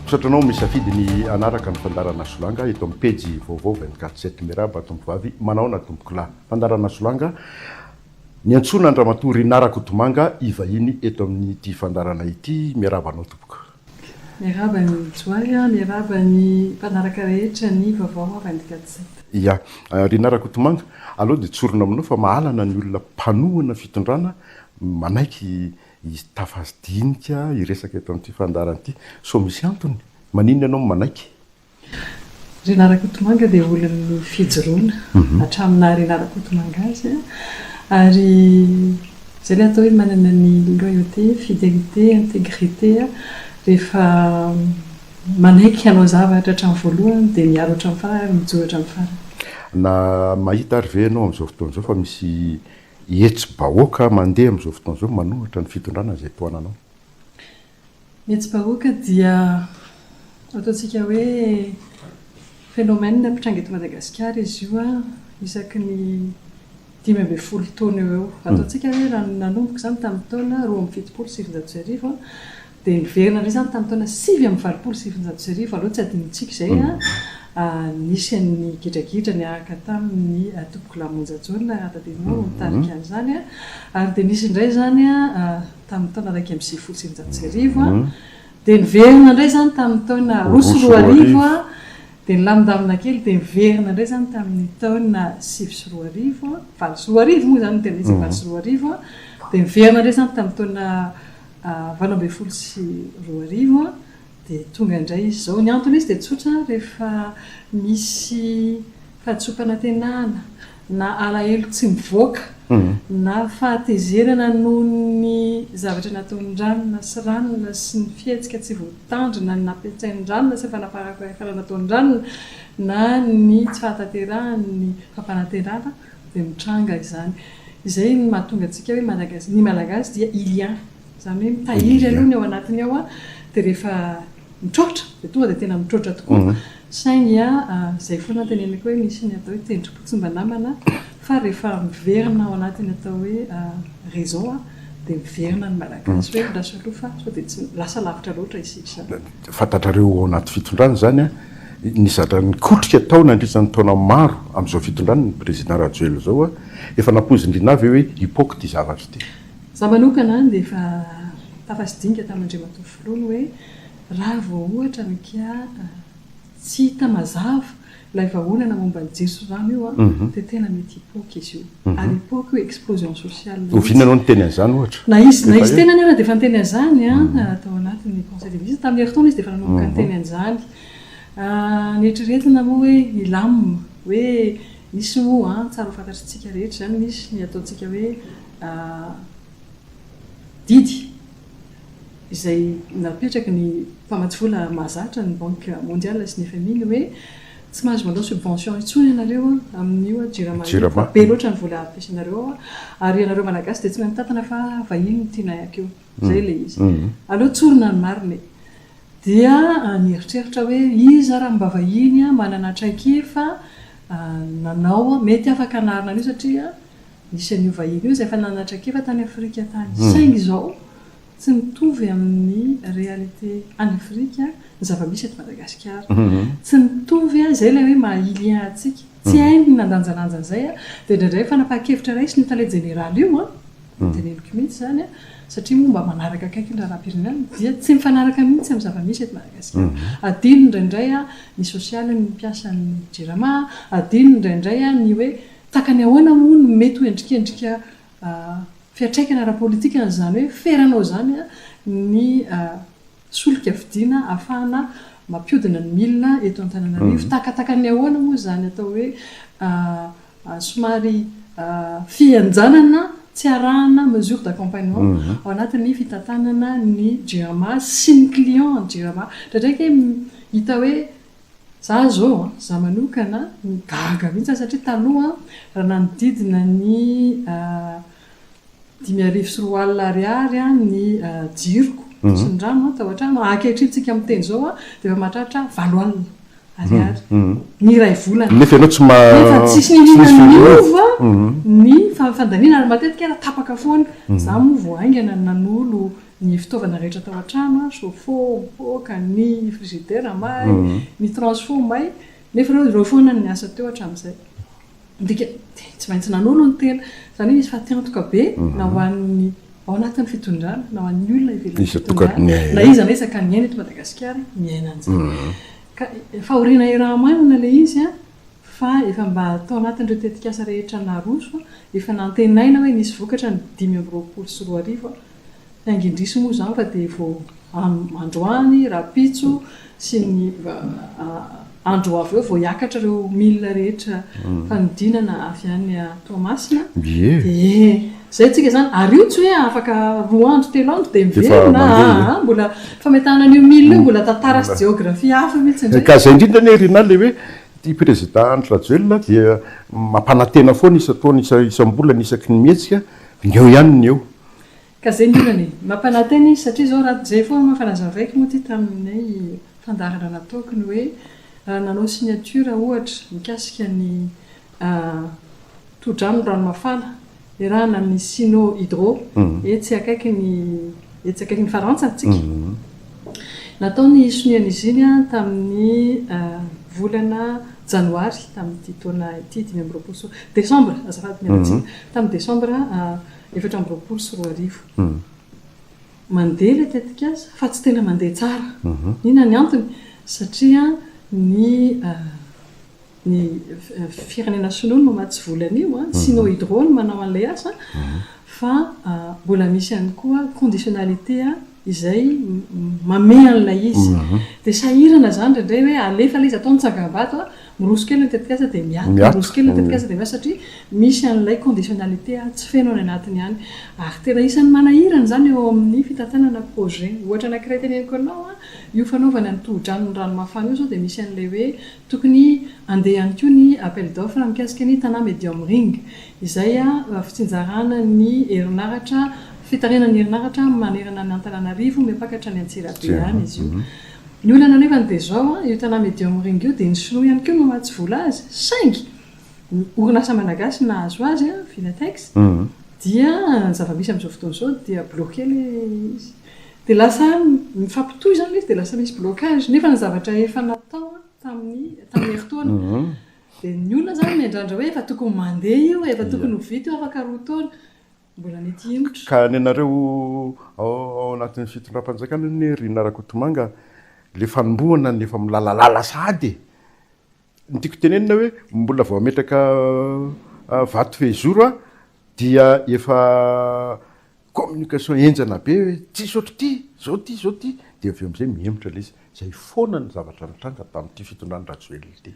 Misaotra anao misafidy ny hanaraka ny fandarana solanga eto amin'ny pejy vaovao 24 7 Miarahaba tompovavy manaona tompokolahy Fandarana solanga Niantsoana an-dRamatoa Rinah Rakotomanga hivahiny eto amin'ity fandarana ity Miarahaba anao tompoko Miarahaba an'i Johary a, miarahaba ny mpanaraka rehetra ny vaovao avy any Gadset. Ya. Rinah Rakotomanga, aleo dia tsorina aminao fa mahalana ny olona mpanohana fitondrana manaiky hitafa dinika hiresaka eto amin'ity fandaharana ity. Sao misy antony? Maninona ianao no manaiky? Rinah Rakotomanga dia olon'ny fijoroana hatramin'ny naha Rinah Rakotomanga azy ary izay ilay atao hoe manana ny loyauté, fidelité, intégrité rehefa manaiky hanao zavatra hatramin'ny voalohany dia miaro hatramin'ny farany ary mijoro hatramin'ny farany. Na mahita ary ve ianao amin'izao fotoana izao fa misy hetsi-bahoaka mandeha amin'izao fotoana izao manohitra ny fitondrana izay tohananao? Ny hetsi-bahoaka dia ataontsika hoe phénomène mpitranga eto Madagasikara izy io isaky ny dimy ambin'ny folo taona eo ho eo. Ataontsika hoe raha ny nanomboka izany tamin'ny taona roa amby fitopolo sy sivinjato sy arivo dia niverina indray izany tamin'ny taona sivy amby valopolo sy sivinjato sy arivo aloha tsy adinontsika izay nisy an'ny gidragidra niaraka tamin'ny Atombokolamonjajaona raha tadidinao no nitarika an'izany ary dia nisy indray izany tamin'ny taona iraika amby sivifolo sy eninjato sy arivo, dia niverina indray izany tamin'ny taona roa sy roa arivo, dia nilamindamina kely, dia niverina indray izany tamin'ny taona sivy sy roa arivo, valo sy roa arivo moa izany no tena izy, valo sy roa arivo, dia niverina indray izany tamin'ny taona valo ambin'ny folo sy roa arivo, dia tonga indray izy izao. Ny anton'izy dia tsotra, rehefa misy fahadisoam-panantenana na alahelo tsy mivoaka, na fahatezerana noho ny zavatra nataon'i Ranona sy Ranona sy ny fihetsika tsy voatandrina nampiasain'i Ranona sy ny fanapahankahitana nataon'i Ranona, na ny tsy fahatanterahan' ny fampanantenana dia mitranga izany. Izay no mahatonga antsika hoe ny Malagasy dia il y a. Izany hoe mitahiry aloha ny ao anatiny ao dia rehefa mitroatra dia tonga dia tena mitroatra tokoa. Saingy izay foana no teneniko hoe misy ny atao hoe tendrom-po tsy mba namana fa rehefa miverina ao anatin'ny atao hoe réseau dia miverina ny Malagasy hoe andraso aloha fa sao dia tsy lasa lavitra loatra isika izany. Fantatrareo ao anaty fitondrana izany ny zatra nikotrika tao nandritra ny taona maro amin'izao fitondrana ny Président Rajoelina izao. Efa nampoizin-dry nà ve hoe hipoaka ity zavatra ity? Za manokana dia efa tafatsidinika tamin' Andriamatoa Filoha ny hoe raha vao ohatra ny kia tsy hita mazava ilay vahaolana momba ny jiro sy rano io dia tena mety hipoaka izy io. Ary hipoaka io explosion sociale mihitsy. Oviana ianao niteny an'izany ohatra? Na izy na izy tenany ary dia efa niteny an'izany tao anatin'ny Conseil des Ministres. Tamin'ny herintaona izy dia efa nanomboka niteny an'izany. Noeritreretina moa hoe hilamina, hoe misy moa, tsara ho fantatr'isika rehetra izany, misy ny ataontsika hoe a didy izay napetraky ny mpamatsy vola mahazatra, ny Banque Mondiale sy ny fmi, ny hoe tsy mahazo mandao subvention intsony ianareo amin'io Jirama io fa be loatra ny vola ampiasainareo ao ary ianareo Malagasy dia tsy mahay mitantana fa vahiny no tianay akeo. Izay ilay izy. Aleo tsorina ny marina e! Dia nieritreritra hoe iza ary mba vahiny manana traikefa nanao, mety afaka hanarina an'io satria Nisy an'io vahiny io izay efa nanatrak'efa tany Afrika tany, saingy izao tsy mitovy amin'ny réalité any Afrika ny zava-misy eto Madagasikara. Tsy mitovy an, izay ilay hoe maha Ilien antsika. Tsy hainy ny nandanjalanja an'izay an, dia indraindray fanapahan-kevitra raisiny io tale jeneraly io an, no teneniko mihitsy izany an, satria moa mba manaraka akaiky ny raharaham-pirenena, dia tsy mifanaraka mihitsy amin'ny zava-misy eto Madagasikara. Adino indraindray an, ny sosialin'ny mpiasan'ny Jirama, adino indraindray an, ny hoe Takany ahoana moa no mety ho endrikendrika fiantraikany ara-politika an'izany hoe feranao izany ny solika vidiana ahafahana mampiodina ny milina eto Antananarivo? Takatakan'ny ahoana moa izany atao hoe somary fihenjanana tsy arahana mesure d'accompagnement ao anatin'ny fitantanana ny jirama sy ny client an'i jirama? Indraindray ange hita hoe Za zao a, za manokana no gaga mihitsy a, satria taloha raha nanodidina ny dimy arivo sy roa alina ariary ny jiroko sy ny rano ato an-trano, ankehitriny tsika miteny zao a dia efa mahatratra valo alina ariary ny iray volana, nefa ianao tsy ma, nefa tsisy niniana niova ny fandaniana ary matetika ara tapaka foana, za moa vao haingana nanolo ny fitaovana rehetra tao an-trano, chauffe-eau, poaka, ny frizidera may, ny transfo may, nefa ireo ireo foana no niasa teo hatramin'izay. Midika, tsy maintsy nanolo ny tena. Izany hoe nisy fatiantoka be na ho an'ny ao anatin'ny fitondrana, na ho an'ny olona ivelan'ny fitondrana, na iza na iza ka miaina eto Madagasikara miaina an'izany. Ka fahoriana iraha-maina ilay izy an! fa efa mba tao anatin'ireo tetikasa rehetra naroso, efa nantenaina hoe nisy vokatra ny dimy amby roapolo sy roa arivo, saingy indrisy moa izany fa dia vao androany, rahampitso sy ny andro ho avy eo vao hiakatra ireo milina rehetra fanodinana avy any Toamasina, ie. Izay tsika izany, ary io tsy hoe afaka roa andro telo andro dia miverina aa, mbola fametahana an'io mille io mbola tantara sy jeografia hafa mihitsy indray. Ka izay indrindra anie ry Rinah ilay hoe ity prezida Andry Rajoelina dia mampanantena foana isan-taona, isam-bolana, isaky ny mihetsika, ny eo ihany ny eo. Ka izay indrindra anie, mampanantena izy satria izao raha izay foana moa efa nazavaiko moa ity tamin'ilay fandaharana nataoko ny hoe raha nanao signature ohatra mikasika ny tohodrano ny rano mafana iarahana amin'ny Sino Hydro etsy akaikin'i etsy akaikin'i Farantsa antsika. Natao ny hisoniana izy iny tamin'ny volana Janoary tamin'ity taona ity, dimy amby roapolo sy roa, Desambra, azafady mialantsiny, tamin'ny Desambra efatra amby roapolo sy roa arivo. Mandeha ilay tetikasa fa tsy tena mandeha tsara. Inona ny antony? Satria ny ny firenena sinoa no matsy vola an'io, sinohydro no manao an'ilay asa, fa mbola misy ihany koa conditionnalité izay mamehy an'ilay izy. Dia sahirana izany indraindray hoe alefa ilay izy atao ny tsangambato, miroso kely ny tetikasa dia miato, miroso kely ny tetikasa dia miato, satria misy an'ilay conditionnalité tsy feno any anatiny any. Ary tena isan'ny manahirana izany eo amin'ny fitantanana projet. Ohatra anankiray teneniko anao, io fanaovana ny tohodrano ny rano mafana io izao dia misy an'ilay hoe Tokony handeha ihany koa ny appel d'offre mikasika ny Tana Medium Ring, izay fitsinjarana ny herinaratra, fitarihana ny herinaratra manerana an' Antananarivo, miapaka hatrany Antsirabe any izy io. Ny olana anefany dia izao, io Tana Medium Ring io dia ny sinoa ihany koa no mahatsy vola azy, saingy ny orinasa malagasy nahazo azy, Vinatex, dia ny zava-misy amin'izao fotoana izao dia bloqué ilay izy. Dia lasa mifampitohy izany ilay izy dia lasa misy blocage. Nefa ny zavatra efa natao tamin'ny tamin'ny herintaona. Dia ny olona izany miandrandra hoe efa tokony mandeha io e, efa tokony ho vita io afaka roa taona. Mbola mety hihemotra. Ka ny anareo ao ao anatin'ny fitondram-panjakana anie ry Narakotomanga, ilay fanombohana no efa milalalala sahady e! Ny tiako tenenina hoe mbola vao hametraka vato fehizoro aho dia efa communication henjana be hoe tsisy ohatr'ity, zao ty, zao ty, dia avy eo amizay mihemotra ilay izy. Zay foana ny zavatra nitranga tamin'ity fitondran'i Rajoelina ity.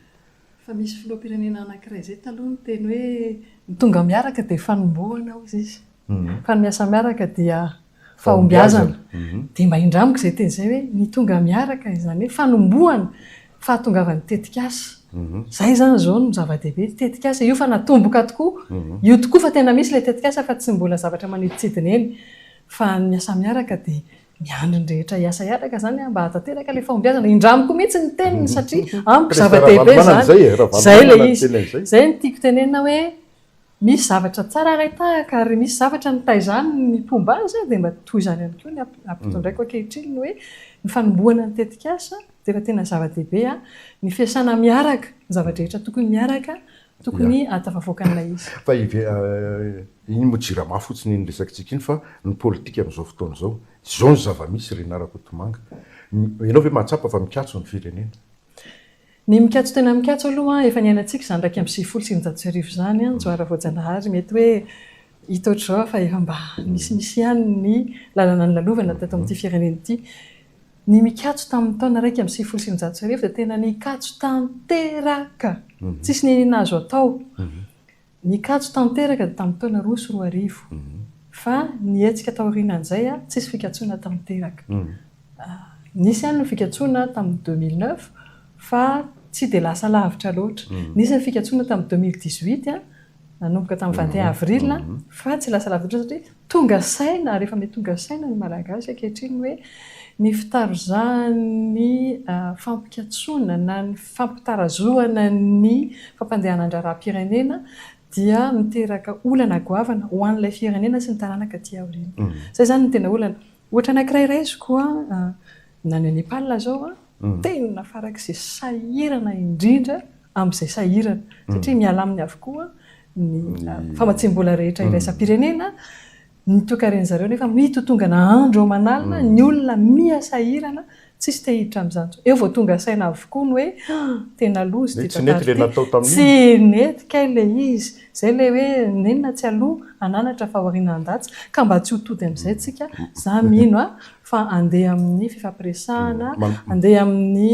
Fa misy filoham-pirenena anakiray zay taloha niteny hoe ny tonga miaraka dia fanombohana hozy izy, fa ny miasa miaraka dia fahombiazana. Dia mba indramiko izay teny izay hoe ny tonga miaraka, izany hoe fanombohana fahatongavan'ny tetikasa. Izay izany izao no zava-dehibe, ny tetikasa io fa natomboka tokoa, io tokoa fa tena misy ilay tetikasa fa tsy mbola zavatra manidintsidina eny. Fa ny asa miaraka dia miandry ny rehetra hiasa hiaraka izany mba hahatanteraka ilay fahombiazana. Indramiko mihitsy ny teniny satria amiko zava-dehibe izany. Izay ilay izy. Izay no tiako tenenina hoe Misy zavatra tsara ray tahaka ary misy zavatra nitaiza ny ny mpomba azy dia mba toy izany ihany koa ny ampitondraiko ankehitriny ny hoe ny fanombohana ny tetikasa dia efa tena zava-dehibe an! ny fiasana miaraka ny zava-drehetra tokony miaraka tokony ahatafavoaka an'ilay izy. Fa iny moa jirama fotsiny iny resakintsika iny fa ny politika amin'izao fotoana izao izao ny zava-misy ry Narakotomanga. Ianao ve mahatsapa fa mikatso ny firenena? Ny mikatso tena mikatso aloha, efa niainantsika izany iraika amby sivifolo sy eninjato sy arivo izany, Njoara Voajanahary, mety hoe hita ohatr'izao fa efa mba misimisy ihany ny lalana nilalovana teto amin'ity firenena ity. Ny mikatso tamin'ny taona iraika amby sivifolo sy eninjato sy arivo dia tena nikatso tanteraka, tsisy ny nahazo atao. Nikatso tanteraka tamin'ny taona roa sy roa arivo, fa ny hetsika taorianan'izay tsisy fikatsoana tanteraka. Nisy ihany ny fikatsoana tamin'ny deux mille neuf fa tsy dia lasa lavitra loatra. Nisy ny fikatsoana tamin'ny deux mille dix huit, nanomboka tamin'ny vingt et un avril, fa tsy lasa lavitra loatra satria Tonga saina ary efa mety tonga saina ny Malagasy ankehitriny hoe ny fitarizahan'ny fampikatsoana na ny fampitarazohana ny fampandehanan-draharaham-pirenena dia miteraka olana goavana ho an'ilay firenena sy ny taranaka aty aoriana. Izay izany no tena olana. Ohatra anankiray raisiko, na any Nepal izao, tena farak'izay sahirana indrindra amin'izay sahirana, satria miha-laminy avokoa ny famatsiam-bola rehetra iraisam-pirenena, ny toekaren'ny zareo nefa mitotongana andro aman'alina, ny olona miha sahirana, tsisy te hiditra amin'izany intsony. Eo vao tonga saina avokoa ny hoe tena loza ity tantara ity. Tsy nety ilay natao tamin'iny. Tsy nety kay ilay izy. Izay ilay hoe nenina tsy aloha hananatra fa aoriana handatsa. Ka mba tsy ho tody amin'izay tsika. Za mino fa handeha amin'ny fifampiresahana, handeha amin'ny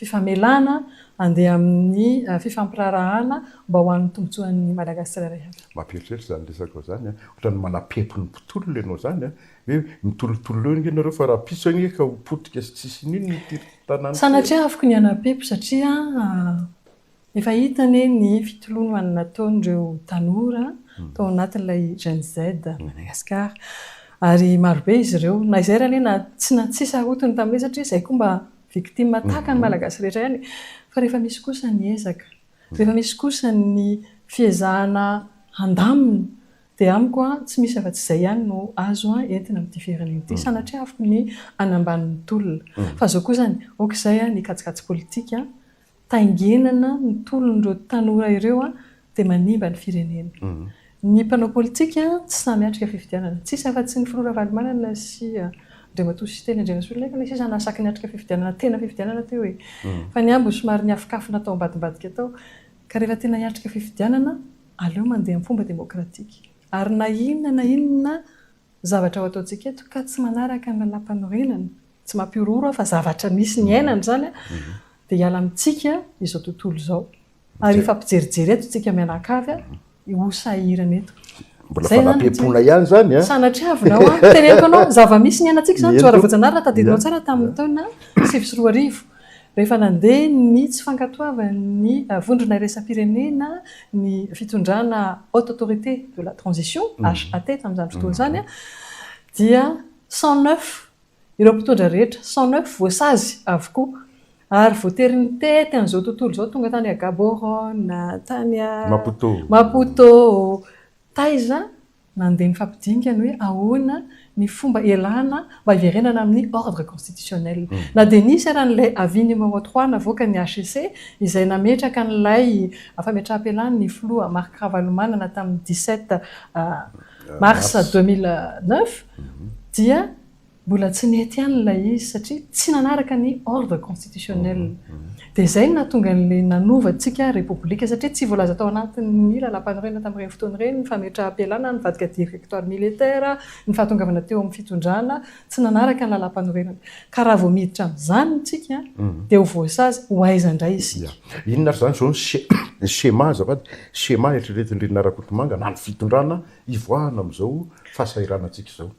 fifamelana handeha amin'ny fifampiraharahana mba ho an'ny tombontsoan'ny Madagasikara rehetra. Mampieritreritra izany resaka izany a! Ohatran'ny manapepy ny mpitolona ianao izany a! Hoe mitolotolo eo ange ianareo fa rahampitso ange ka ho potika sy tsisy inona ity tanàna ity e! Sanatriaviko ny hanapepy satria Efa hita anie ny fitolonoana nataon'ireo tanora tao anatin'ilay Gen Z Madagascar ary marobe izy ireo na izay ary anie na tsy na tsy sarotiny tamin'izay satria izay koa mba victime tahaka ny Malagasy rehetra ihany e! fa rehefa misy kosa ny ezaka, rehefa misy kosa ny fiezahana handamina dia amiko an tsy misy afa-tsy izay ihany no azo entina amin'ity firenena ity, sanatriaviko ny hanambany ny tolona fa izao kosa ny ok izay ny kajikajy politika taingenana ny tolon'ireo tanora ireo dia manimba ny firenena. Ny mpanao politika tsy samy atrika fifidianana. Tsisy afa tsy ny filoha Ravalomanana sy Andriamatoa Siteny Andrianasoloniaiko ilay sisa nahasaky niatrika fifidianana tena fifidianana teo e! Fa ny ambiny somary niafokafona atao ambadimbadika tao. Ka rehefa tena hiatrika fifidianana aleo mandeha amin'ny fomba demokratika. Ary na inona na inona Zavatra ho ataontsika eto ka tsy manaraka ny lalàmpanorenana, tsy mampihorohoro aho fa zavatra misy niainana izany, dia hiala amintsika izao tontolo izao. Ary hifampijerijery eto isika mianakavy, ho sahirana eto. Mbola fanampiam-poana ihany izany an! Sanatriavina ho'a, teneniko anao, zava-misy niainantsika izany, Johara Voajanahary raha tadidinao tsara tamin'ny taona sivy sy roa arivo. Rehefa nandeha ny tsy fankatoavan'ny Vondrona Iraisam-pirenena ny fitondrana Haute Autorité de la Transition, HAT, tamin'izany fotoana izany dia cent neuf ireo mpitondra rehetra, cent neuf voasazy avokoa ary voatery nitety an'izao tontolo izao, tonga tany Gaborone, tany Maputo, taiza Nandeha nifampidinika ny hoe ahoana ny fomba hialana mba hiverenana amin'ny ordre constitutionnel. Na dia nisy ary an'ilay avis numéro trois navoaka ny hcc izay nametraka an'ilay fametraham-pialany ny filoha Marc Ravalomanana tamin'ny dix-sept mars deux mille neuf dia Mbola tsy nety ihany ilay izy satria tsy nanaraka ny ordre constitutionnel. Dia izay no nahatonga an'ilay nanovantsika Repoblika satria tsy voalaza tao anatin'ny lalàmpanorenana tamin'ireny fotoana ireny ny fametraham-pialana, nivadika directoire militaire, ny fahatongavana teo amin'ny fitondrana. Tsy nanaraka ny lalàmpanorenana. Ka raha vao miditra amin'izany isika dia ho voasazy ho aiza indray isika? Inona ary izany izao ny schéma azafady? Schéma eritreretin-dry Narakotomanga na ny fitondrana hivoahana amin'izao fahasahiranantsika izao?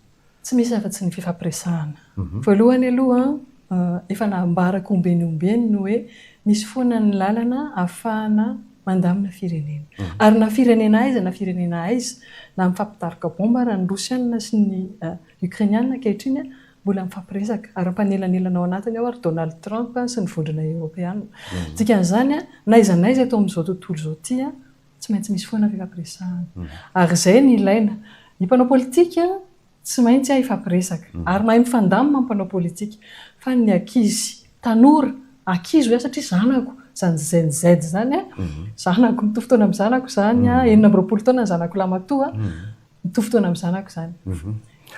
Tsy misy afa-tsy ny fifampiresahana. Voalohany aloha, efa nambarako ombieny ombieny ny hoe misy foana ny lalana ahafahana mandamina firenena. Ary na firenena aiza na firenena aiza, na mifampitaroka baomba ara ny Rosiana sy ny Okrainiana ankehitriny, mbola mifampiresaka. Ary mpanelanelana ao anatiny ao ary Donald Trump sy ny vondrona Eoropeana. Dikan'izany, na aiza na aiza eto amin'izao tontolo izao ity, Tsy maintsy misy foana fifampiresahana. Ary izay no ilaina. Ny mpanao politika tsy maintsy hahay hifampiresaka. Ary mahay mifandamina ny mpanao politika. Fa ny ankizy, tanora, ankizy hoy aho satria zanako, izany Gen Z izany, zanako, mitovy taona amin'ny zanako izany, enina amby roapolo taona ny zanako lahy matoa, Mitovy fotoana amin'ny zanako izany.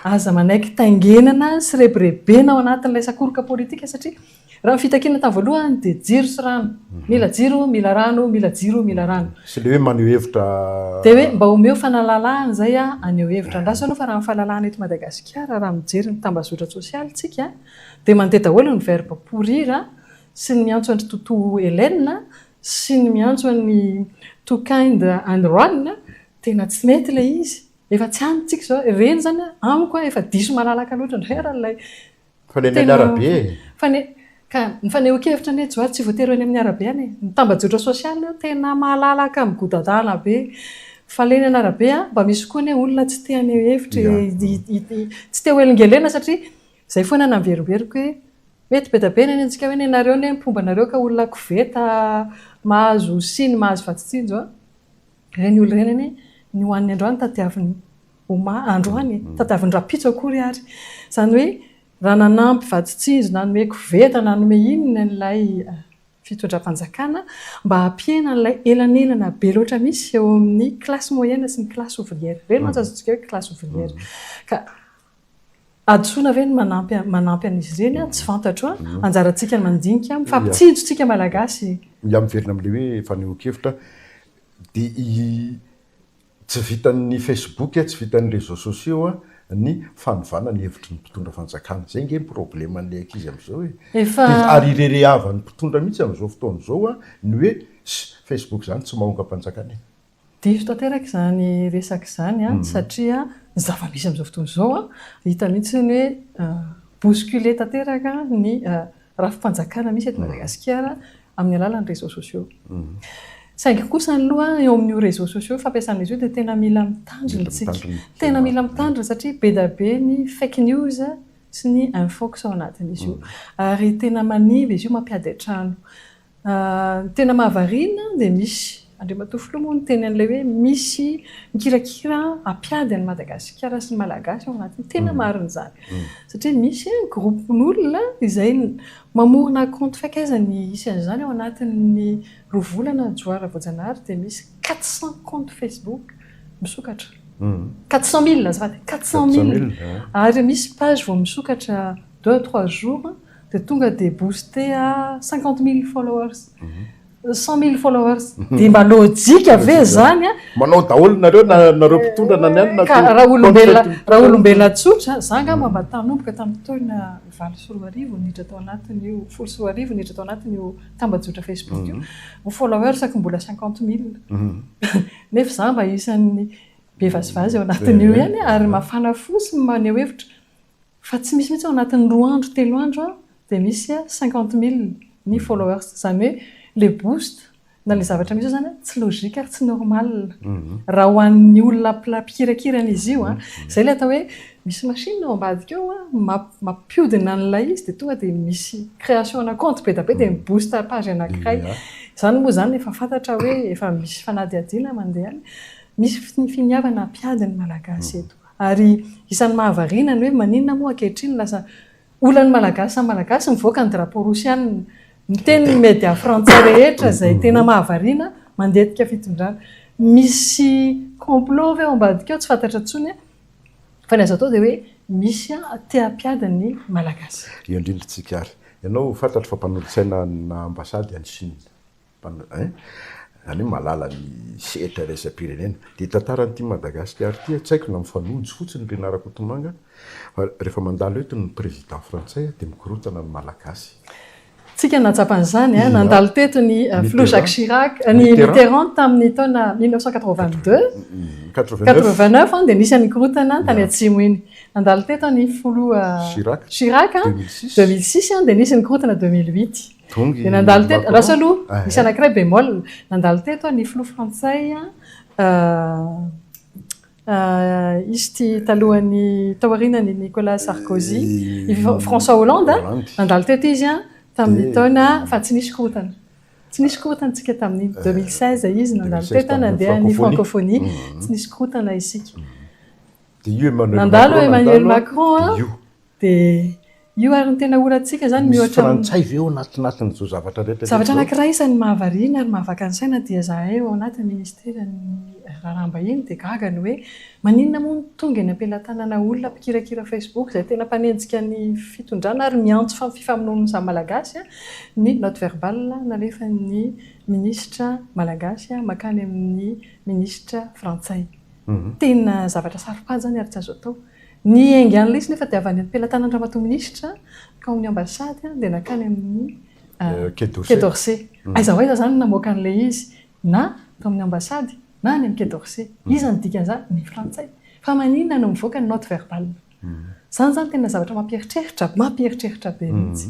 Aza manaiky taingenana sy rebirebena ao anatin'ilay sakoroka politika satria raha ny fitakiana tamin'ny voalohany dia jiro sy rano. Mila jiro, mila rano, mila jiro, mila rano. Sy ilay hoe maneho hevitra. Dia hoe mba omeo fanalalahana izay aho haneho hevitra. Andraso aloha fa raha ny fahalalahana eto Madagasikara raha mijery ny tambazotra tsosialy isika dia mandeha daholo ny verbe pourrir sy ny miantso an-dry Totoa Hélène sy ny miantso an'i Tokind and Ron Tena tsy mety ilay izy. Efa tsy any tsika izao. Ireny izany amiko an, efa diso malalaka loatra indray ary ilay Fanenana tena arabe e. fane- ka ny fanehoan-kevitra anie Johary tsy voatery ho eny amin'ny arabe any e. Ny tambajotra sosialy anie tena malalaka migodatana be. Fanenana arabe an, mba misy koa anie olona tsy te haneho hevitra e. Ia. Hi- hi- hi- Tsy te ho elingelina satria izay foana no averimberiko hoe mety be dia be ny any antsika hoe nenareo anie ny mpomba anareo ka olona koveta mahazo siny mahazo vatsin-tsinjo an. Ireny olona ireny anie ny ho an'ny androany tadiavin'ny oma androany e, tadiavin'ny rahampitso akory ary. Izany hoe raha nanampy vadin-tsindry nanome koveta, nanome inona ilay fitondram-panjakana mba hampihena an'ilay elanelana be loatra misy eo amin'ny classe moyenne sy ny classe ouvrière. Ireny mantsy azontsika hoe classe ouvrière. Ka. Hadisoana ve ny manampy manampy an'izy ireny an? Tsy fantatro an! Anjarantsika mandinika, mifampitsinjo tsika Malagasy e! Izaho miverina amin'ilay hoe fanehoan-kevitra dia tsy vitan'ny Facebook, tsy vitan'ny réseaux sociaux ny fanovana ny hevitry ny mpitondra fanjakana. Izay ange ny probleman'ilay ankizy amin'izao e! Efa. Ary irerehavan'ny mpitondra mihitsy amin'izao fotoana izao ny hoe, ss, Facebook izany tsy mahomby hampanjakana e! Diso tanteraka izany resaka izany satria ny zava-misy amin'izao fotoana izao, hita mihitsy ny hoe bousculé tanteraka ny rafi-panjakana misy eto Madagasikara amin'ny alalan'ny réseaux sociaux. Saingy kosa aloha eo amin'io réseaux sociaux fampiasan'izy io dia tena mila mitandrina isika. Tena mila mitandrina satria be dia be ny fake news sy ny infox ao anatin'izy io. Ary tena manimba izy io, mampiady an-trano. Ny tena mahavariana dia misy. Andriamatoa Filoha moa niteny an'ilay hoe misy mikirakira hampiady an'i Madagasikara sy ny Malagasy ao anatiny. Tena marina izany. Satria misy groupe-n'olona izay mamorona compte fake. Aiza ny isan'izany ao anatin'ny roa volana Johara Voajanahary dia misy quatre cents comptes Facebook misokatra. Quatre cents mille azafady, quatre cents mille. Ary misy page vao misokatra deux à trois jours dia tonga dia booster à cinquante mille followers cent mille followers dia mba lojika ve izany a? Manao daholo nareo na nareo mpitondra na ny any na Ka raha olombelona raha olombelona tsotra za angamba mba tanomboka tamin'ny taona valo sy roa arivo niditra tao anatin'io folo sy roa arivo niditra tao anatin'io tambajotra Facebook io ny followersako mbola cinquante mille nefa za mba isan'ny be vazivazy ao anatin'io ihany ary mafana fo sy maneho hevitra Fa tsy misy mihitsy ao anatin'ny roa andro telo andro dia misy cinquante mille ny followers izany hoe ilay boost na ilay zavatra misy eo izany tsy logique ary tsy normal raha ho an'ny olona mpikirakira an'izy io an! izay ilay atao hoe misy machine ao ambadika ao mampiodina an'ilay izy dia tonga dia misy création-na compte be dia be dia mi boost page anankiray izany moa izany efa fantatra hoe efa misy fanadihadiana mandeha any misy ny finiavana hampiady ny malagasy eto. Ary isan'ny mahavariana ny hoe maninona moa ankehitriny lasa olan'ny Malagasy samy Malagasy mivoaka ny drapeau Rosiana. Miteny ny media frantsay rehetra izay tena mahavariana mandetika fitondrana. Misy complot ve ao ambadika ao tsy fantatra intsony an! Fa ny azo atao dia hoe misy an te hampiady ny Malagasy. Eo indrindra isika ary. Ianao fantatro fa mpanolotsaina ana ambasady any Chine. Zany hoe malala ny sehatra iraisam-pirenena. Dia tantara an'ity Madagasikara ity tsy haiko na mifanojo fotsiny ry Narakotomanga fa rehefa mandalo eto ny président frantsay dia mikorontana ny Malagasy. Tsika nahatsapa an'izany, nandalo teto ny filoha Jacques Chirac, ny Mitterand tamin'ny taona mille neuf cent quatre-vingt-deux, quatre-vingt-neuf dia nisy an'iny korontana any tany atsimo iny. Nandalo teto ny filoha Chirac deux mille six dia nisy ny korontana deux mille huit. Dia nandalo teto, rasa aloha, misy anankiray bémol, nandalo teto ny filoha frantsay izy ity talohan'ny, tao aorianan'i Nicolas Sarkozy, i François Hollande, nandalo teto izy an, tamin'ny taona, fa tsy nisy korontana. Tsy nisy korontana isika tamin'iny, 2016 izy nandalo teto an, nandeha ny francophonie, tsy nisy korontana isika. Dia io Emmanuel Macron nandalo. Nandalo Emmanuel Macron an. Dia io ary no tena ora antsika izany mihoatra amin'ny. Misy frantsay ve ao anatinatin'ny izao zavatra rehetra izao? Zavatra anankiray isan'ny mahavariana ary mahavaka ny saina dia izahay ao anatin'ny ministeran'ny raharaham-bahiny dia gaga ny hoe maninona moa no tonga eny am-pelatanana olona mpikirakira facebook izay tena mpanenjika ny fitondrana ary miantso amin'ny fifamonoan'ny samy malagasy ny note verbale nalefan'ny minisitra malagasy makany amin'ny minisitra frantsay. Tena zavatra saro-pady izany ary tsy azo atao. Ny enga an'ilay izy nefa dia avy any am-pelatanan'Ramatoa Minisitra ka ao amin'ny Ambasady dia nankany amin'ny Quai d'Orsay. Aiza ho aiza izany no namoaka an'ilay izy? Na tao amin'ny Ambasady na any amin'ny Quai d'Orsay. Iza no dikan'izany? Ny Frantsay. Fa maninona no mivoaka ny note verbale? Izany izany tena zavatra mampieritreritra, mampieritreritra be mihitsy.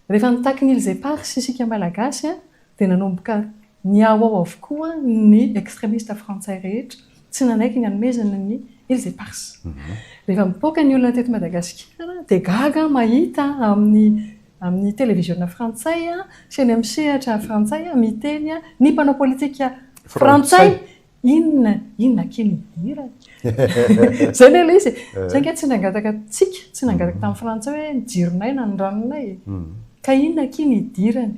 Rehefa nitaky ny Îles Éparses isika Malagasy dia nanomboka Nihaho ao avokoa ny extremista frantsay rehetra tsy nanaiky ny hanomezana ny Îles Éparses. Rehefa mipoaka ny olona teto Madagasikara dia gaga mahita amin'ny amin'ny televiziona frantsay sy eny amin'ny sehatra frantsay miteny ny mpanao politika frantsay Inona inona akia ny hidirany. Izay ilay ilay izy e. Izay ange tsy nangataka antsika, tsy nangataka tamin'ny frantsay hoe ny jironay na ny ranonay e. Ka inona akia ny hidirany.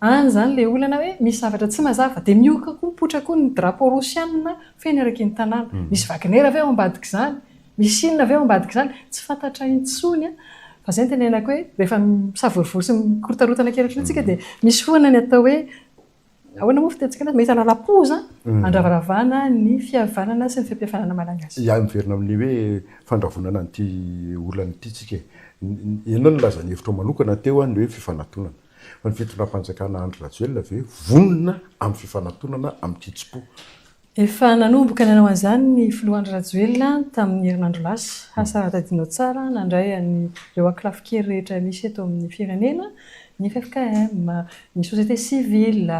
Any izany ilay olana hoe misy zavatra tsy mazava. Dia miohoka koa, mipoitra koa ny drapeau rosianina feno eraky ny tanàna. Misy Wagner ve ao ambadik'izany? Misy inona ve ao ambadik'izany? Tsy fantatra intsony an. Fa izay no tenenako hoe rehefa misavorovoro sy mikorotana kely ohatr'ireny isika dia misy foana ny atao hoe Ahoana moa fitentsika anazy? Mahita lalam-po za hmm. andravaravana ny fihavanana sy ny fiampihavanana malagasy. Ia, miverina amin'ny hoe fandravonana an'ity olana ity tsika e. Ianao nilaza ny hevitro manokana teo ny hoe fifanatonana. Fa ny fitondram-panjakana Andry Rajoelina ve vonona amin'ny fifanatonana amin'ny kitsim-po? Efa nanomboka nanao an'izany ny Filoha Andry Rajoelina tamin'ny herinandro lasa. Asa raha tadidinao tsara, nandray an'ireo ankolafin-kery rehetra misy eto amin'ny firenena, ny ffkm, ny société civile,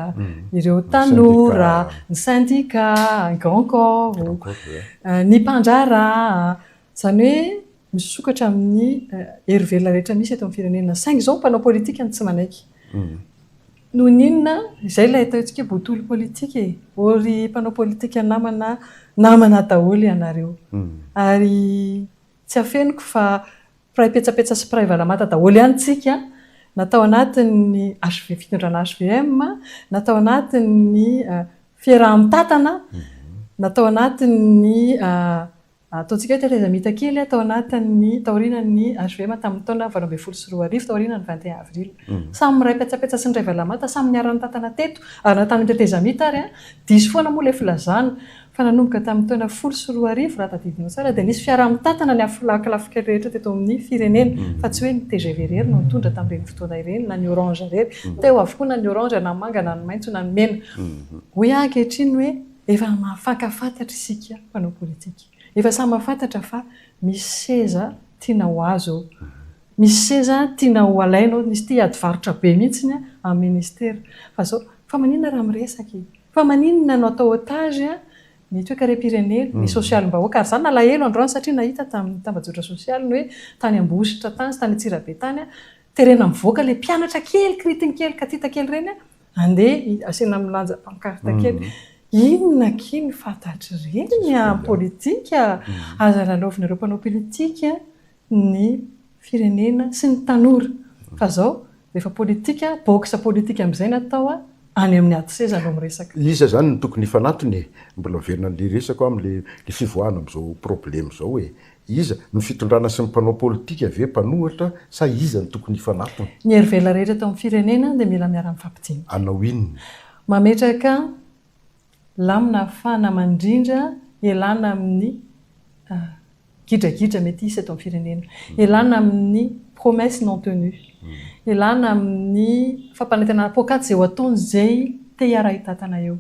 ireo tanora, ny sendika, ny grand corps, ny mpandraharaha, izany hoe misokatra amin'ny hery velona rehetra misy eto amin'ny firenena. Saingy izao ny mpanao politika no tsy manaiky. Noho ny inona? Izay ilay atao antsika hoe botolo politika e! Ô ry mpanao politika namana, namana daholo ianareo. Ary tsy afeniko fa mpiray petsapetsa sy mpiray valamata daholo ihany isika, na tao anatin'ny HV, fitondrana hvm, na tao anatin'ny fiaraha-mitantana, na tao anatin'ny Ataontsika hoe tetrezamita kely tao anatin'ny taorianan'ny HVM tamin'ny taona valo ambin'ny folo sy roa arivo, taorianan'ny vingt et un avril. Samy miray petsapetsa sy niray valamata, samy niara-nitantana teto ary na tamin'ny tetrezamita ary, diso foana moa ilay filazana fa nanomboka tamin'ny taona folo sy roa arivo, raha tadidinao tsara, dia nisy fiaraha-mitantana ny afolahikilafokely rehetra teto amin'ny firenena, fa tsy hoe ny tgv irery no nitondra tamin'ireny fotoana ireny, na ny orange irery. Teo avokoa na ny orange, na ny manga, na ny maitso, na ny mena. Hoy aho ankehitriny hoe Efa mahafantafantatra isika mpanao politika. Efa samy mahafantatra fa misy seza tiana ho azo eo. Misy seza tiana ho alaina eo. Misy te hiady varotra be mihitsy amin'ny ministera. Fa izao, fa maninona raha miresaka e? Fa maninona no atao otage ny toekarem-pirenena, ny sosialim-bahoaka? Ary izaho nalahelo androany satria nahita tamin'ny tambajotra sosialy ny hoe tany Ambositra tany sy tany Antsirabe tany, terena mivoaka ilay mpianatra kely, kiritigny kely, katita kely ireny, Andeha asiana milanja pankarta kely. Inona akia ny fantatry reny an politika? Aza lalaovinareo mpanao pilitika ny firenena sy ny tanora fa zao rehefa politika box politika amizay ny atao an any amin'ny ady seza no miresaka. Iza zany no tokony hifanatona e? Mbola miverina an'le resako aho amin'le fivoahana amin'izao problème izao e! Iza? Ny fitondrana sy ny mpanao politika ve mpanohitra sa iza no tokony hifanatona? Ny herivela rehetra eto amin'ny firenena dia mila miara-mifampidinika. Hanao inona? Mametraka lamina ahafahana mandrindra ialana amin'ny gidragidra mety hisy eto amin'ny firenena. Ialana amin'ny promesses non tenues. Ialana amin'ny fampanantenana poakaty izay ho ataon'izay te hiara-hitatana eo.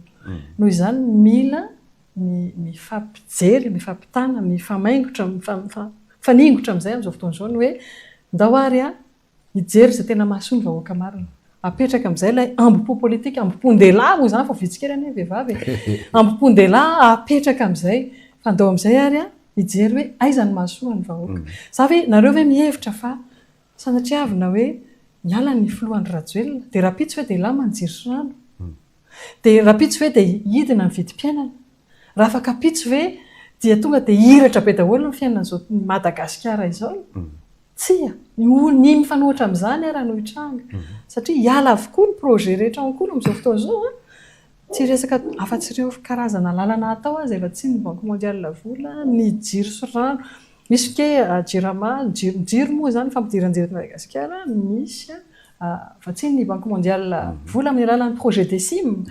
Noho izany, mila mifampijery, mifampitana, mifamaingotra, mifaningotra amin'izay amin'izao fotoana izao ny hoe ndao ary hijery izay tena mahasoa ny vahoaka marina. Apetraka amin'izay ilay ambo-po politika, ambo-pondehilahy moa izany fa vitsy kely anie ny vehivavy e! Ambo-pondehilahy apetraka amin'izay fa ndao amin'izay ary hijery hoe aiza ny mahasoa ny vahoaka. Za ve, nareo ve mihevitra fa Sanatriavina hoe hiala ny filoha Andry Rajoelina dia rahampitso ve dia hilamany jiro sy rano? Dia rahampitso ve dia hidina ny vidim-piainana? Raha afakampitso ve dia tonga dia hihiratra be daholo ny fiainan'izao Madagasikara izao? Tsia! Ny mifanohitra amin'izany ara no hitranga satria hiala avokoa ny projet rehetra ao an-kolon'izao fotoana izao an! Tsy resaka afa tsy ireo karazana lalana atao aza efa tsy ny banque mondiale vola, ny jiro sy rano, misy ke jirama, jiro, jiro moa izany fampidiran-jiro eto Madagasikara misy afa tsy ny banque mondiale vola amin'ny alalan'ny projet DECIM,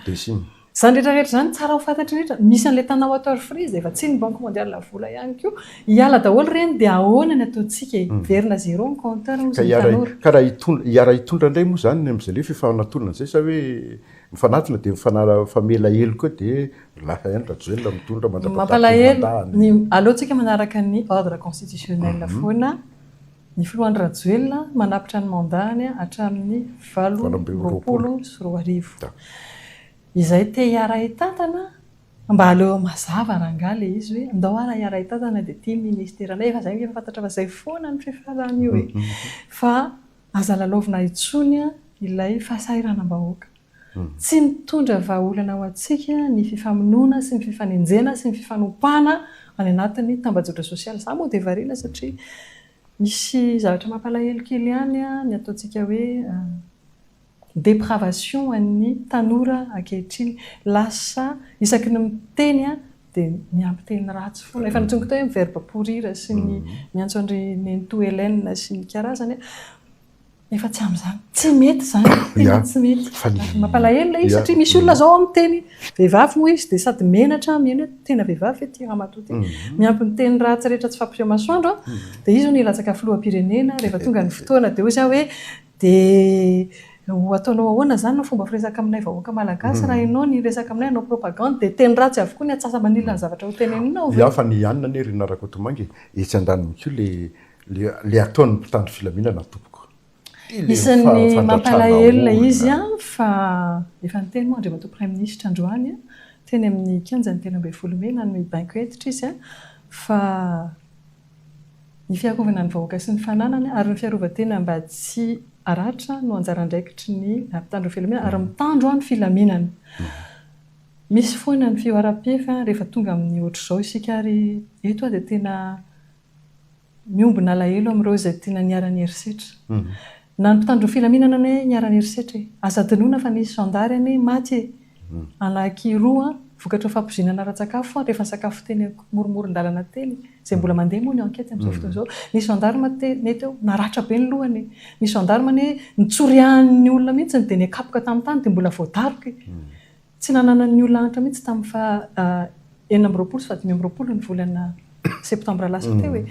izany rehetra rehetra izany tsara ho fantatry ny rehetra, misy an'ilay Tana water free izay efa tsy ny banque mondiale vola ihany koa, hiala daholo ireny dia ahoana ny ataontsika e? hiverina zéro ny compteur hozy ny tanora. Ka raha hitondra, hiara hitondra indray moa izany ny amin'izay lefy efa natolona izay sa hoe Mifanatona dia mifanala-famela heloka eo dia lasa ihany Rajoelina mitondra mandra-pahafaty ny mandat-ny. Aleo tsika manaraka ny ordre constitutionnel foana, ny filoha Andry Rajoelina manapitra ny mandat-ny hatramin'ny valo amby roapolo sy roa arivo. Izay te hiaraha tantana mba aleo mazava rangaha ilay izy hoe ndao ara hiaraha tantana dia ity ministera anay efa izay efa fantatra fa izay foana ny fifaran'io e! Fa Aza lalaovina intsony ilay fahasahiranam-bahoaka. Tsy mitondra vahaolana ho antsika ny fifamonoana sy ny fifanenjehana sy ny fifanompana any anatin'ny tambajotra sosialy. Izaho moa dia variana satria misy zavatra mampalahelo kely ihany ny ataontsika hoe depravation an'ny tanora ankehitriny. Lasa isaky ny miteny dia miampy teny ratsy foana. Efa nitsongo teo ny verbe pourrir sy ny miantso an-dry nenitoa Hélène sy ny karazany a. Efa tsy amin'izany. Tsy mety izany. Tena tsy mety. Mampalahelo ilay izy satria misy olona izao miteny vehivavy moa izy dia sady menatra, miheno hoe tena vehivavy ve ity ramatoa ity. Miampy ny teny ratsy rehetra tsy fahampiam-masoandro dia izy hono hilatsaka filoham-pirenena rehefa tonga ny fotoana dia hoy izy hoe Dia ho ataonao ahoana izany no fomba firesaka aminay vahoaka malagasy raha ianao ny hiresaka aminay hanao propagande dia teny ratsy avokoa ny atsasa-manilina ny zavatra ho teneninao ve? Miafana ihanina anie ry Narakotomanga e, etsy andaniny koa le le ataon'ny mpitandro filaminana tompoko. Isan'ny mampalahelo ilay izy fa efa niteny moa Andriamatoa Praiminisitra androany teny amin'ny kianjan'ny telo ambin'ny folo mey nanome baiko hentitra izy fa Ny fiarovana ny vahoaka sy ny fananany ary ny fiarovan-tena mba tsy haratra no anjara andraikitry ny mpitandro filaminana ary mitandro ny filaminana. Misy foana ny fihoaram-pefy rehefa tonga amin'ny ohatr'izao isika ary eto aho dia tena miombona alahelo amin'ireo izay tena niharan'ny herisetra. Na ny mpitandro filaminana anie niharan'ny herisetra e! Aza adinoina fa nisy zandary anie maty e! Alaky roa vokatra fampizinana ara-tsakafo ary efa nisakafo teny amoromoron-dalana teny izay mbola mandeha moa ny enquête amin'izao fotoana izao. Nisy gendarme teny teo naratra be ny lohany. Nisy gendarme anie nitsoriahan'ny olona mihitsy dia nikapoka tamin'ny tany dia mbola voadaroka. Tsy nananan'ny olona antra mihitsy tamin'ny faha enina amby roapolo sy faha dimy amby roapolo ny volana septembre lasa teo e.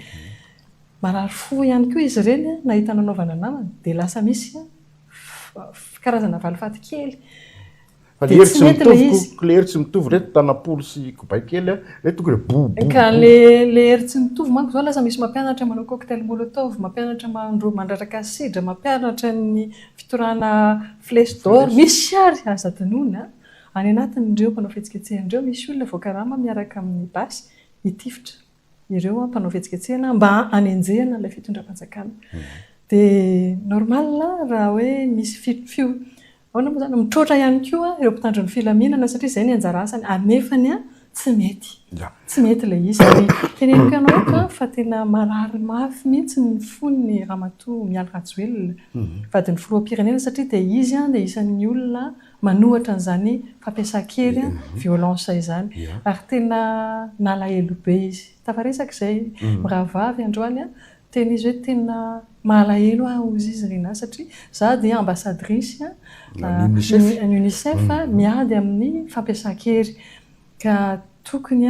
Marary fo ihany koa izy ireny nahita nanaovana namana dia lasa misy karazana valifaty kely. Fa lery tsy mitovy, lery tsy mitovy reto tanapolo sy kobay kely a, reto tonga dia bo bo. Ka le lery tsy mitovy manko zao lasa misy mampianatra manao cocktail molotov, mampianatra mandro mandratraka asidra, mampianatra ny fitorahana flèche d'or, misy ary aza adinoina a! Any anatin'ireo mpanao fihetsiketsehana ireo misy olona voakarama miaraka amin'ny basy hitifitra. ireo mpanao fihetsiketsehana mba hanenjehana ilay fitondram-panjakana. Dia normal raha hoe misy fi, fi, ahoana moa izany, mitroatra ihany koa ireo mpitandro ny filaminana satria izay ny anjara asany ary nefany tsy mety. Tsy mety ilay izy. Ary teneniko ianao eto fa tena marary mafy mihitsy ny fon'ny Ramatoa Mialy Rajoelina, vadin'ny Filoham-pirenena satria dia izy dia isan'ny olona manohatra an'izany fampiasan-kery, violence, izany. Ary tena nalahelo be izy. Tafaresaka izay mirahavavy androany, teny izy hoe tena mahalahelo ahy hozy izy ry Nina satria za dia ambasadirisy an'ny UNICEF miady amin'ny fampiasan-kery. Ka tokony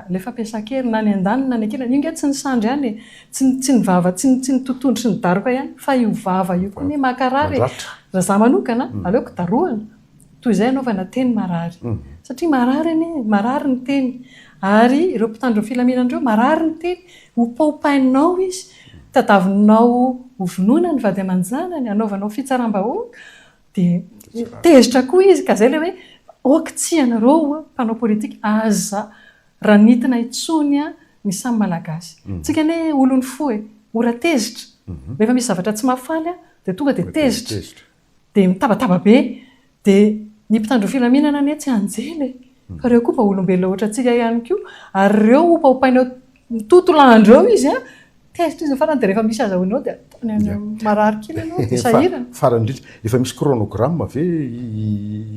ilay fampiasan-kery na ny an-daniny na ny an-kilany, io nge tsy ny sandry ihany e, tsy ny vava, tsy ny totohondry sy ny daroka ihany fa io vava io koa anie mankarary e. Raha za manokana aleoko darohana toy izay anaovana teny marary. Satria marary anie, marary ny teny. Ary ireo mpitandro ny filaminana ireo marary ny teny, hopaopainao izy, tadavinao hovonoina ny vady aman-janany, hanaovanao fitsaram-bahoaka, Dia tezitra koa izy ka izay ilay hoe ok tsy ianareo mpanao politika aza ranitina intsony ny samy malagasy. Tsika anie olon'ny fo e, ora tezitra. Rehefa misy zavatra tsy mahafaly dia tonga dia tezitra. Dia mitabataba be. Dia ny mpitandro filaminana anie tsy anjely e. Fa ireo koa vao olombelona ohatrantsika ihany koa, ary ireo hopaompaina eo tontolandro eo izy an, tezitra izy ny farany dia rehefa misy azahoany eo dia ataony any an, marary kely ianao dia sahirana. Farany indrindra, efa misy chronogramme ve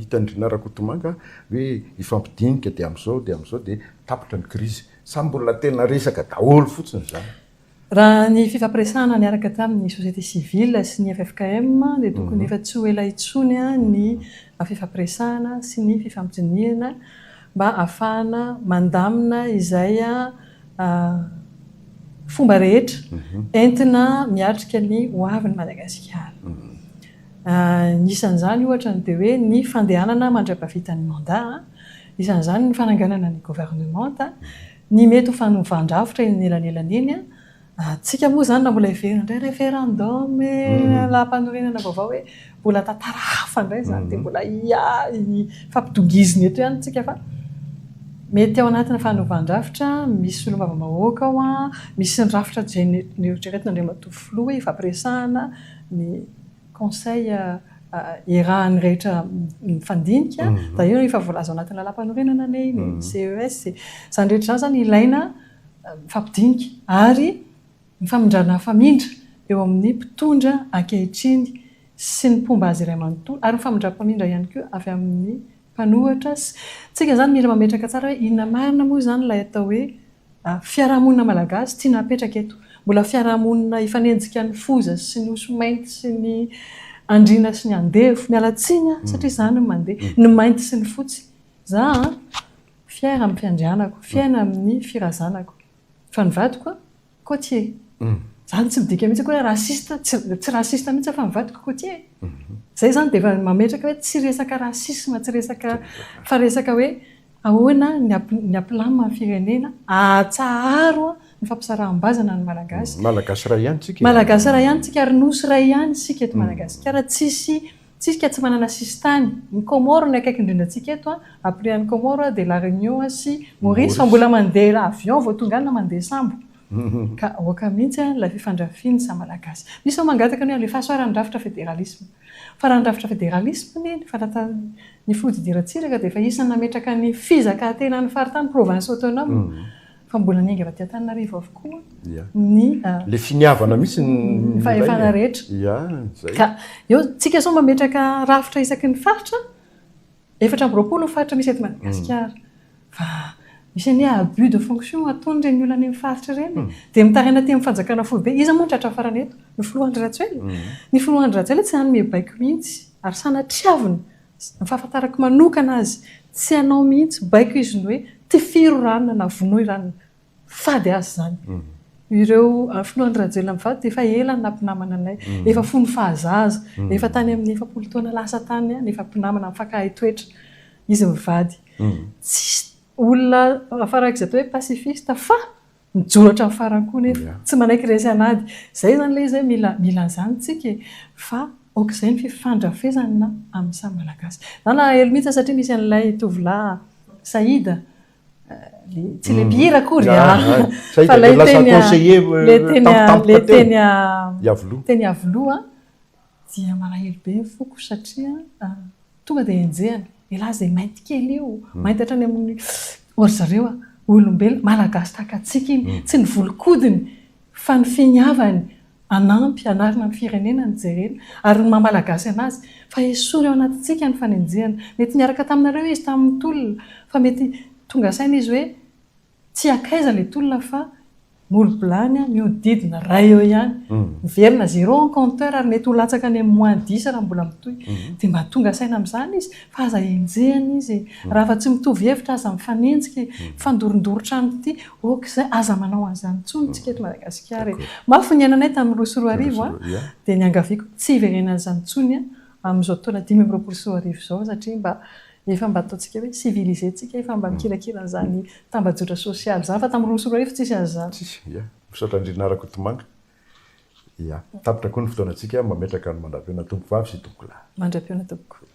hitan-dry Rakotomanga hoe hifampidinika dia amin'izao dia amin'izao dia tapitra ny crise sa mbola tena resaka daholo fotsiny izany? Raha ny fifampiresahana niaraka tamin'ny société civile sy ny ffkm dia tokony efa tsy ho ela intsony ny fifampiresahana sy ny fifampidinihana mba hahafahana mandamina izay fomba rehetra entina miatrika ny hoavin'i Madagasikara. Isan'izany ohatra ny dia hoe ny fandehanana mandra-pahavitan'ny mandat, isan'izany ny fananganana ny governemanta, Ny mety ho fanovan-drafitra eny anelanelany eny an! Antsika moa izany raha mbola heverina indray referendum e! Lalàmpanorenana vaovao hoe mbola tantara hafa indray izany dia mbola hifampidongizina eto ihany isika fa mety ao anatina fanovan-drafitra misy solombavambahoaka ao an, misy ny rafitra izay noeritreretin'Andriamatoa Filoha hoe ifampiresahana ny conseil iarahan'ny rehetra mifandinika, d'ailleurs efa voalaza ao anatin'ny lalam-panorenana anie iny e, CES e, izany rehetra izany izany ilaina mifampidinika ary mifamindrana hafamindra eo amin'ny mpitondra ankehitriny sy ny mpomba azy iray manontolo ary mifamindram-pamindra ihany koa avy amin'ny mpanohatra sy tsika izany mila mametraka tsara hoe inona marina moa izany ilay atao hoe Fiarahamonina malagasy tiana hapetraka eto. Mbola fiarahamonina hifanenjika ny foza sy ny osy mainty sy ny andriana sy ny andevo. Miala tsiny aho satria izany no mandeha. Ny mainty sy ny fotsy. Za an, fier amin'ny fiandrianako, fiaina amin'ny firazanako. Fa ny vadiko côtier. Za tsy midika mihitsy akory hoe raciste, tsy raciste mihitsy aho fa ny vadiko côtier. Izay izany dia efa mametraka hoe tsy resaka racisme, tsy resaka, fa resaka hoe Ahoana ny Aplam amin'ny firenena ahatsaharo ny fampisaraham-bazana ny Malagasy? Malagasy iray ihany isika e! Malagasy iray ihany isika ary Nosy iray ihany isika eto Madagasikara. Tsisy tsika tsy manana sisintany. Ny Comores no akaiky indrindra antsika eto, après an'i Comores dia La Réunion sy Maurice fa mbola mandeha avion vao tonga any na mandeha sambo. Ka aoka mihitsy ilay fifandrafian'ny samy Malagasy. Misy mangataka ny hoe alefaso ary ny rafitra federalisme. Fa raha ny rafitra federalisma anie, ny fanatan'ny ny fihodiriratsiraka dia efa isan'ny nametraka ny fizakàntenan'ny faritany, province autonome, fa mbola niainga avy aty Antananarivo avokoa ny, Ilay finiavana mihitsy ny milay e! fahefana rehetra. Ka eo, tsika sao mametraka rafitra isaky ny faritra, Efatra amby roapolo ny faritra misy eto Madagasikara fa misy anie abus de fonction ataon'ireny olona any amin'ny faritra ireny e! dia mitaraina aty amin'ny fanjakana foibe, iza moa no tratra farany eto? ny filoha Andry Rajoelina, ny filoha Andry Rajoelina tsy hanome baiko mihitsy ary sanatriavina, ny fahafantarako manokana azy tsy hanao mihitsy baiko izy ny hoe tifiro ranona na vonoy ranona. Fady azy izany. Ireo finoan'i Rajoelina mivady dia efa ela no nampinamana anay. Efa fony fahazaza, efa tany amin'ny efapolo taona lasa tany aho no efa mpinamana mifankahay toetra izy mivady. Tsisy olona farak'izay atao hoe pacifiste fa mijoro hatramin'ny farany koa nefa. Tsy manaiky resy an'ady. Izay izany ilay izy hoe mila mila an'izany isika e. Fa aok'izay ny fifandrafesana amin'ny samy Malagasy. Za nalahelo mihitsy satria misy an'ilay tovolahy Saida tsy le mpihira akory fa lay teny teny avoloha dia malahelo be ny foko satria tonga dia enjehina elah izay mainty kely io mainty hatrany amin'ny ory zareo olombelona malagasy tahaka antsika iny tsy ny volon-kodiny fa ny finiavany Hanampy, hanarina ny firenena ny jerena ary ny maha-malagasy anazy, fa esory ao anatintsika ny fanenjehana. Mety niaraka taminareo izy tamin'ny tolona, fa mety tonga saina izy hoe, tsy hankaiza ilay tolona fa molo-bilany mihodidina iray eo ihany, miverina zéro en compteur ary mety ho latsaka any amin'ny moins dix raha mbola mitohy. Dia mba tonga saina amin'izany izy fa aza enjehina izy e! Raha fa tsy mitovy hevitra aza mifanenjika e! Mifandorondoro trano ity Ok zay, aza manao an'izany intsony isika eto Madagasikara e. Mafy ny niainanay tamin'ny roa sy roa arivo an, dia niangaviako tsy hiverenana an'izany intsony amin'izao taona dimy amby roapolo sy roa arivo izao satria mba efa mba ataontsika hoe civilisé tsika, efa mba mikirakira an'izany tambajotra sosialy izany fa tamin'ny roa sy roa arivo tsisy an'izany. Tsisy, ya. Misaotra Andrianarakotomanga. Ia. Tapitra koa ny fotoanantsika, mametraka ny mandra-pihaonan'ny Tompovavy sy Tompolahy. Mandra-pihaona tompoko.